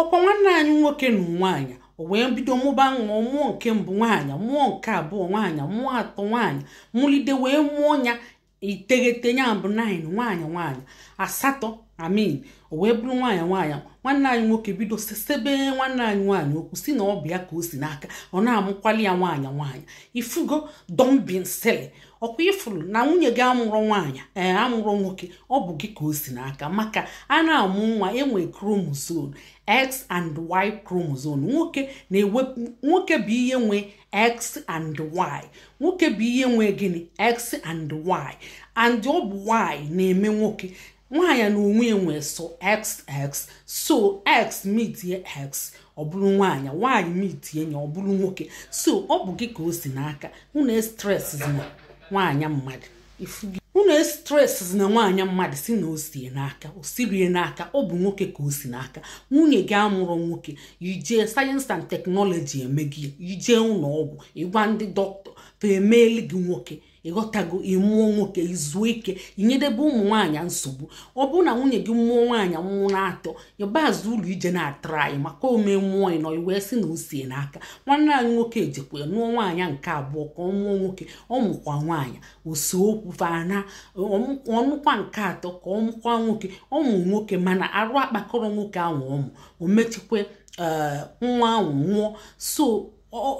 ọkwa nwanne anyị nwoke na nwaanyị o wee bido mụba nwa mụọ nke mbụ nwaanyị mụọ nke abụọ nwaanyị mụọ atọ nwaanyị mụlide wee mụọ ya iteghete ya bụ nine nwaanyị nwaanyị asatọ I mean o wee bụrụ nwaanyị nwaanyị nwanne anyị nwoke bido sesebe nwanne anyị nwaanyị okwu sị na ọ bụ ya ka o si n'aka ọ na-amụkwali ya nwaanyị nwaanyị ị fụgo don't be silly ọkwa ị fụrụ na nwunye gị amụrọ nwaanyị ee eh, amụrọ nwoke ọ bụ gị ka o si n'aka maka a na-amụ nwa e nwe chromosome x and y chromosome nwoke bụ ihe nwe x and y nwoke bụ ihe nwe gịnị x and y and ọ bụ y na-eme nwoke nwaanyị na onwe enwe sọ xx so x meetie x ọ bụrụ nwaanyị y meetie ya ọ bụrụ nwoke so ọ bụ gị ka o si n'aka unu estressna nwaanyị mmadụ unu estressna nwaanyị mmadụ sị na o si ya n'aka o sirọ ya n'aka ọ bụ nwoke ka o si n'aka nwunye gị amụrọ nwoke i jee science and technology e mee gị i jee ụlọ ọgwụ ị gwa ndị dọkịta fa emeeli gị nwoke ị ghọtago ị mụọ nwoke i zuo ike inyedebe ụmụ nwaanyị nsogbu ọ bụrụ na nwunye gị mụọ nwaanyị mụọ na atọ ị baa azụ ụlọ i je na-atry maka o mee mụọ ịnọ i wee sị na o si ya n'aka nwanne anyị nwoke ejekwa ya nụọ nwaanyị nke abụọ ka ọ mụọ nwoke ọ mụkwa nwaanyị o see okwu fa na ọ nụkwa nke atọ ka ọ mụkwa nwoke ọ mụ nwoke mana arụ akpakọrọ nwoke ahụ ọ mụ o mechikwe nwa ahụ nwụọ so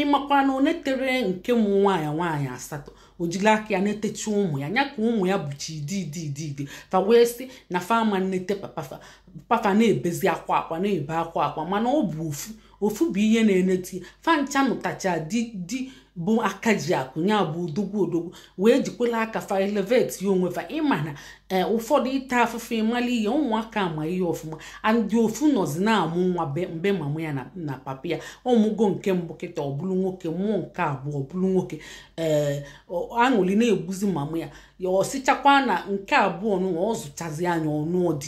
ị makwa na o netere nke mụ nwaanyị nwaanyị asatọ o jiri aka ya netechi ụmụ ya anya ka ụmụ ya bụchi di di di di fa wee sị na fa ama nnete papa fa papa na-ebezi akwa akwa na-ebe akwa akwa mana ọ bụ ofu ofu bụ ihe na-eneti fa ncha nụtacha di di bụ aka ji akụ ya bụ odogwu odogwu wee jikwela aka fa elevatie onwe fa ị ma na eh, ụfọdụ ịta afụfụ ịmala ihe ụmụaka ma ihe ọfụma and ofu nọzi na-amụ nwa mgbe mama ya na papa ya ọ mụgo nke mbụ kịta ọ bụrụ nwoke mụọ nke abụọ ọ bụrụ nwoke ee eh, aṅụli na-egbuzi mama ya ya o sichakwa na nke abụọ nụwa ọ zụchazi anya ọnụ ọdị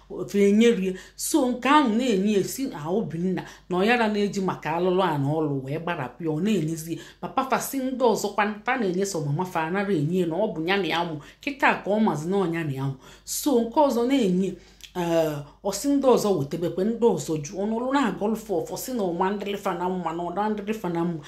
ofe enyerie so nke ahụ na-enye esi na obinna na ọyara na-eji maka alụlụ a na ọlụ wee gbarapụ ya ọ na-enyezie papa fa sị ndị ọzọkwa fa na-enye so mama fa anara enye na ọ bụ ya na ya mụ kịta ka ọ mazi na ọnya na ya mụ so nke ọzọ na-enye ee ọsị ndị ọzọ wetebekwe ndị ọzọ ju ọnụlụ na-agọlụ fa ọfọ sị na ọ ma-adịrị fa na mma na ọ da-adịrị fa na mma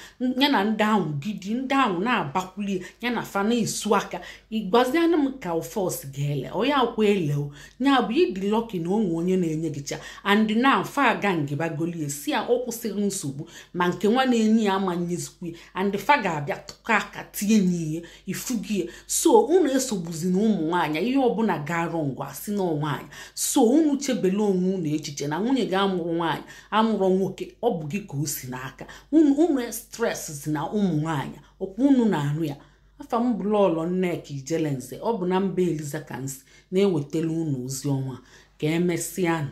ya na ndị ahụ gidi ndị ahụ na-abakwulie ya na fa na-esu aka ịgwazianụ m ka ofe ọsị ga-ele onye akwa ele o ya bụ ị dị lucky na o nwe onye na-enye gị cha and na fa aga ngibagolie sị ya ọ kwụsịrị nsogbu ma nke nwa na-enye ya ama nyezikwu ya and fa ga-abịa tụkọ aka tinye nye ihe ị fụgo ya so unu esogbuzina ụmụ nwaanyị ihe ọbụla gara wrong wa sị na nwaanyị so unu chebele onwe unu echiche na nwunye gị amụrụ nwaanyị amụrọ nwoke ọ bụ gị ka o si n'aka unu stresszina ụmụ nwaanyị ọkwa unu na-anụ ya afa m bụ lọlọ nneka ijelenze ọ bụ na mba eliza ka m si na-ewetara unu ozi ọnwa ka emesịanụ